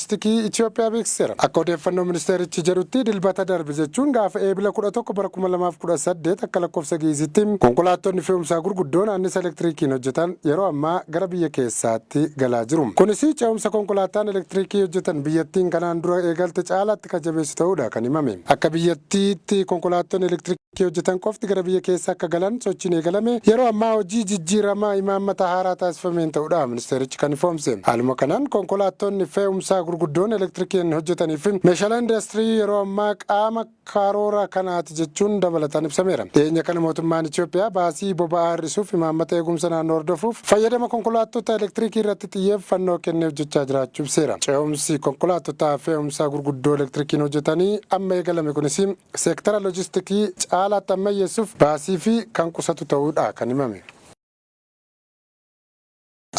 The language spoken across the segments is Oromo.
Loojistikii Itiyoophiyaa beeksiseera. Akka odeeffannoo ministeerichi jedhutti Dilbata darbe jechuun gaafa Eebila 11 bara 2018 akka lakkoofsa Gi'iizitti konkolaattonni fe'umsaa gurguddoon annisa elektiriikiin hojjetan yeroo ammaa gara biyya keessaatti galaa jiru. Kunis ce'umsa konkolaattaan elektiriikii hojjetan biyyattiin kanaan dura eegalte caalaatti kan jabeessu ta'uudha kan himame. Akka biyyattiitti konkolaattonni elektiriikii. Tti hojjetan qofti gara biyya keessa akka galan sochiin eegalame yeroo ammaa hojii jijjiirama imaammata haaraa taasifameen ta'uudha ministeerichi kan ifoomse. Haaluma kanaan konkolaattonni fee'umsaa gurguddoon elektirikiin hojjetanii fi meeshaaleen indaastirii yeroo ammaa qaama karoora kanaati jechuun dabalataan ibsameera. Dhiyeenya kana mootummaan Itiyoophiyaa baasii boba'aa hir'isuuf imaammata eegumsa naannoo hordofuuf fayyadama konkolaattota elektirikii irratti xiyyeeffannoo kennee hojjechaa jiraachuu ibseera. Ce'umsi konkolaattota fee'umsaa gurguddoo elektirikiin hojjetanii amma eegalame kunis Seektara lojistikii caalaatti ammayyeessuuf baasii fi kan qusatu ta'uu dha kan himame.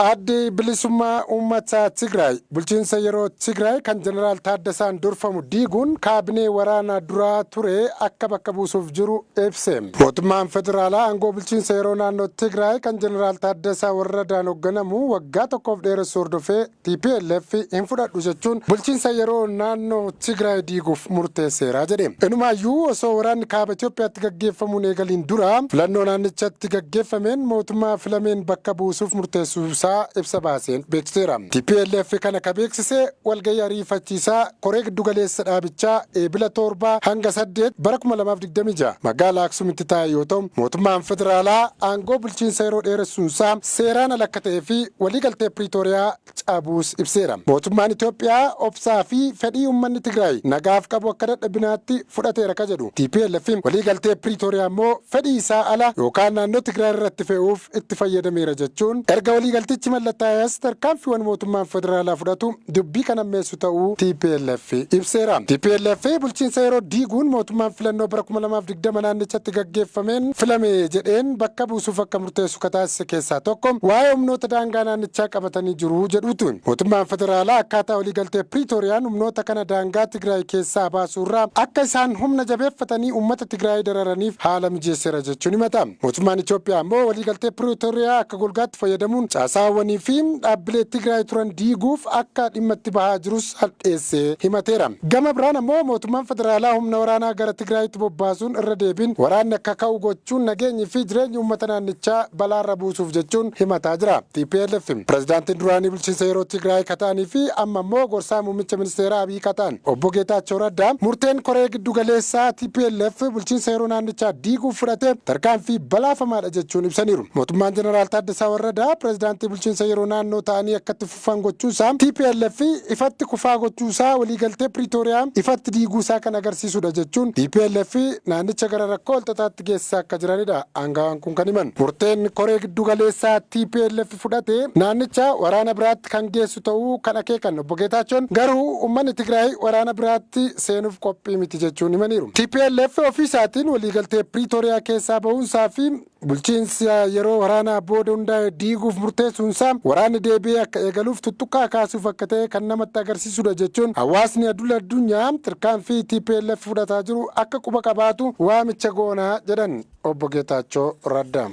Addi Bilisummaa Uummatta Tigraay bulchiinsa yeroo Tigraay kan Jeneraal Taaddasaan durfamu diiguun kaabinee waraana duraa ture akka bakka buusuuf jiru ibse. Mootummaan federaalaa aangoo bulchiinsa yeroo naannoo Tigraay kan Jeneraal Taaddasaa Warradaan hogganamu waggaa tokkoof dheeressuu hordofee, Tplf hin fudhadhu jechuun bulchiinsa yeroo naannoo Tigraay diiguuf murteesseera jedhe. Inumaayyuu osoo waraanni Kaaba Itoophiyaatti gaggeeffamuu hin eegaliin dura filannoo naannichatti gaggeeffameen mootummaa filameen bakka buusuuf murteessuusaa ibsa baaseen beeksiseera. Tplf kana ka beeksise walgahii ariifachiisaa Koree Giddugaleessa dhaabichaa Eebila 7 hanga 8 bara 2026 magaalaa Aksumitti taa'e yoo ta'u, mootummaan federaalaa aangoo bulchiinsa yeroo dheeressuunsaa seeraan ala akka ta'ee fi waliigaltee Piriitooriyaa cabuus ibseera. Mootummaan Itoophiyaa obsaa fi fedhii uummanni Tigraay nagaaf qabu akka dadhabinaatti fudhateera ka jedhu tplf, waliigaltee Piriitooriyaa immoo fedhii isaa ala yookaan naannoo Tigraay irratti fe'uuf itti fayyadameera jechuun erga waliigaltichi mallattaa'ee as tarkaanfiiwwan mootummaan federaalaa fudhatu dubbii kan hammeessu ta'uu tplf ibseera. Tplf bulchiinsa yeroo diiguun mootummaan filannoo bara 2020 naannichatti gaggeeffameen filame jedheen bakka buusuuf akka murteessu ka taasise keessaa tokko waa'ee humnoota daangaa naannichaa qabatanii jiru jedhuuti. Mootummaan federaalaa akkaataa waliigaltee Piriitooriyaan humnoota kana daangaa Tigraay keessaa baasuu irraa akka isaan humna jabeeffatanii uummata Tigraay dararaniif haala mijeesseera jechuun himata. Mootummaan Itoophiyaa ammoo waliigaltee Piriitooriyaa akka golgaatti fayyadamuun caasaawwanii fi dhaabbilee Tigraay turan diiguuf akka dhimma itti bahaa jirus cal'eessee himateera. Gama biraan ammoo mootummaan federaalaa humna waraanaa gara Tigraayitti bobbaasuun irra deebiin waraanni akka ka'u gochuun nageenyi fi jireenyi uummata naannichaa balaarra buusuuf jechuun himataa jira. Tplf pirezidaantiin duraanii bulchiinsa yeroo Tigraay ka ta'anii fi amma ammoo gorsaa muummicha ministeeraa Abiy ka ta'an Obbo Geetaachoo Raddaa murteen koree giddu galeessaa tplf bulchiinsa yeroo naannichaa diiguuf fudhate tarkaanfii balaafamaadha jechuun ibsaniiru. Mootummaan Jeneraal Taaddasaa Warradaa pirezidaantii bulchiinsa yeroo naannoo ta'anii akka itti kufan gochuu isaa, tplf ifatti kufaa gochuu isaa, waliigaltee Piriitooriyaa ifatti diiguu isaa kan agarsiisu dha jechuun tplf naannicha gara rakkoo walxaxaatti geessisaa akka jirani dha aangawaan kun kan himan. Murteen koree giddu galeessaa tplf fudhate naannicha waraana biraatti kan geessu ta'uu kan akeekan Obbo Geetaachoon, garuu ummanni Tigraay waraana biraatti seenuuf qophii miti jechuun himaniiru. Tplf ofii isaatiin waliigaltee Piriitooriyaa keessaa bahuun isaa fi Bulchiinsa yeroo waraanaa booda hundaa'e diiguuf murteessuunsaa waraanni deebi'ee akka eegaluuf tuttuqqaa kaasuuf akka ta'e kan namatti agarsiisudha jechuun hawaasni adul addunyaa tarkaanfii tplf fudhataa jiru akka quba qabaatu waamicha goona jedhan Obbo Geetaachoo Raddaa.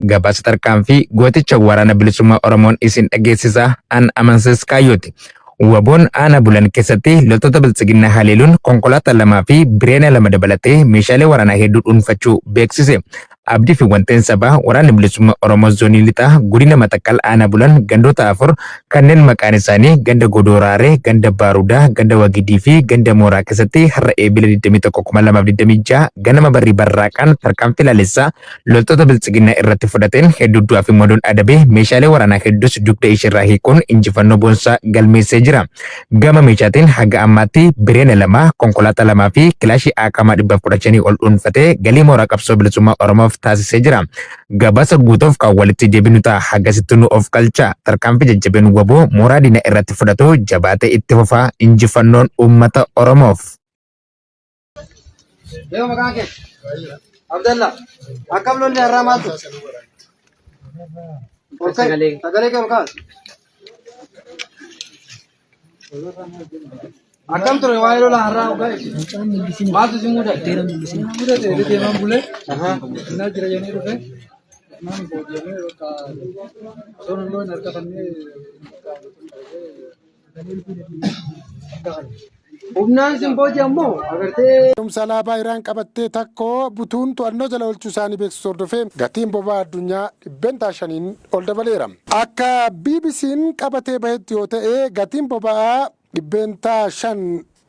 Gabaasa tarkaanfii gooticha waraana bilisummaa Oromoon isin dhageessisaa an amansiis kaayyooti. Waboon aanaa bulan keessatti loltoota biltsiginnaa haleeluun konkolaataa lamaa fi bireena lama dabalatee meeshaalee waraanaa hedduu dhuunfachuu beeksise. Abdii fi wanteen sabaa waraanni bilisummaa Oromoo zoonii lixaa godina Matakkal aanaa bulan gandoota afur kanneen maqaan isaanii ganda Godooraaree, ganda Baarudaa, ganda Wagidii fi ganda Mooraa keessatti har'a Eebila 21,2026 ganama barrii barraaqaan tarkaanfii laalessaa loltoota biltsiginnaa irratti fudhateen hedduu du'aa fi madoon adabee meeshaalee waraanaa hedduus dugda isheerraa hiikuun injifannoo boonsaa galmeessee jira. Gama meeshaatiin haga ammaatti bireena lama, konkolaataa lamaa fi kilaashii aakaamaa dhibba kudha shanii ol dhuunfatee galii mooraa qabsoo bilisummaa Oromoof taasisee jira. Gabaasa guutuuf kan walitti deebinu ta'a hagasitti nu of qalcha. Tarkaanfii jajjabeen waboo mooraa diina irratti fudhatu jabaatee itti fufaa injifannoon uummata Oromoof. Leo maqaan kee? Abdalla. Akkam lolli har'aa maaltu? Sagalee. Sagalee kee ol kaas. Akkam ture waa'ee lola har'aa ogaa ibsi. Maaltu isin mudate? Mudate jedhee deemaan bulee. Innaa jira jennee dhufe. Naan boodiyamee bakka osoo hin loon harka fannee. Humnaan sin booji'an moo agartee. Fe'umsa alaabaa Iraan qabattee takko butuun to'annoo jala oolchuu isaanii beeksisu hordofee gatiin boba'aa addunyaa dhibbentaa shaniin ol dabaleera. Akka BBC'n qabatee bahetti yoo ta'e gatiin boba'aa dhibbeentaa shan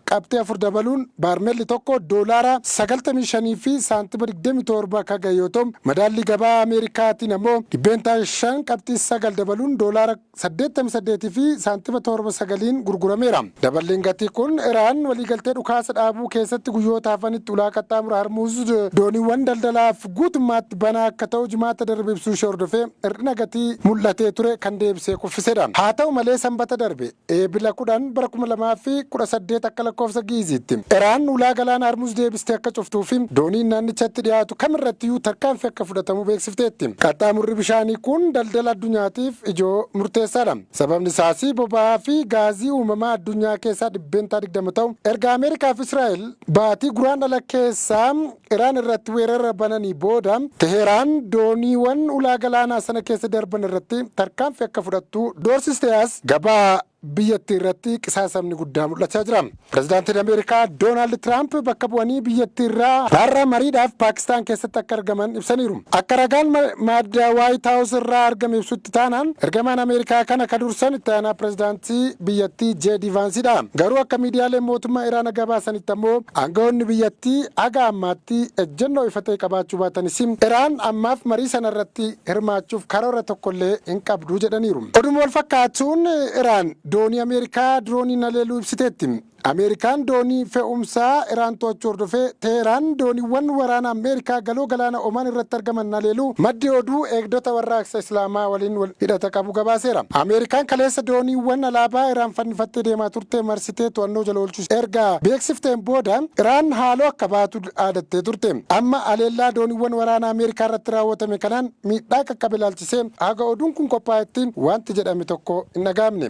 Qabxii 4 dabaluun baarmelli tokko doolaara 95 fi saantima 27 ka gahe yoo ta'u, madaallii gabaa Ameerikaatiin ammoo dhibbeentaa 5 qabxii 9 dabaluun doolaara 88 fi saantima 7 9n gurgurameera. Daballiin gatii kun Iraan waliigaltee dhukaasa dhaabuu keessatti guyyoota hafanitti ulaa qaxxaamura Harmuuz dooniiwwan daldalaaf guutummaatti banaa akka ta'u Jimaata darbe ibsuushee hordofee hir'ina gatii mul'atee ture kan deebisee kuffisedha. Haata'u malee Sambata darbe. Eebila 10 bara 2018 akka lakkoofsa Gi'iziitti, Iraan ulaa galaana Harmuz deebistee akka cuftuu fi dooniin naannichatti dhiyaatu kam irrattiyyuu tarkaanfii akka fudhatamu beeksifteetti. Qaxxaamurri bishaanii kun daldala addunyaatiif ijoo murteessaadha. Sababni isaas boba'aa fi gaazii uumamaa addunyaa keessaa %20 ta'u erga Ameerikaa fi Israa'el baatii Guraandhala keessa Iraan irratti weerara bananii booda Teheeraan dooniiwan ulaa galaanaa sana keessa darban irratti tarkaanfii akka fudhattu doorsiste as gabaa biyyattii irratti qisaasamni guddaa mul'achaa jira. Pirezidaantiin Ameerikaa Doonaald Tiraamp bakka bu'anii biyyattii irraa har'a mariidhaaf Paakistaan keessatti akka argaman ibsaniiru. Akka ragaan madda Waayit Haawus irraa argame ibsutti taanaan ergamaan Ameerikaa kana ka dursan itti aanaa pirezidaantii biyyattii JD Vaansidha. Garuu akka miidiyaaleen mootummaa Iraana gabaasanitti ammoo Aanga'oonni biyyattii haga ammaatti ejjennoo ifa ta'e qabaachuu baatanis, Iraan ammaaf marii sanarratti hirmaachuuf karoora tokkollee hin qabdu jedhaniiru. Oduma wal fakkaatuun Iraan doonii Ameerikaa dirooniin haleeluu ibsiteetti. Ameerikaan doonii fe'umsaa Iraan to'achuu hordofee Teehraan dooniiwwan waraana Ameerikaa Galoo Galaana Omaan irratti argaman haleeluu maddi oduu Eegdota Warraaqsa Islaamaa waliin wal hidhata qabu gabaaseera. Ameerikaan kaleessa dooniiwwan alaabaa Iraan fannifattee deemaa turte marsitee to'annoo jala oolchuu erga beeksifteen booda Iraan haaloo akka baatu dhaadattee turte. Amma haleellaa dooniiwwan waraanaa Ameerikaa irratti raawwatame kanaan miidhaa qaqqabe ilaalchisee haga oduun kun qophaa'etti waanti jedhame tokko hin dhaga'amne.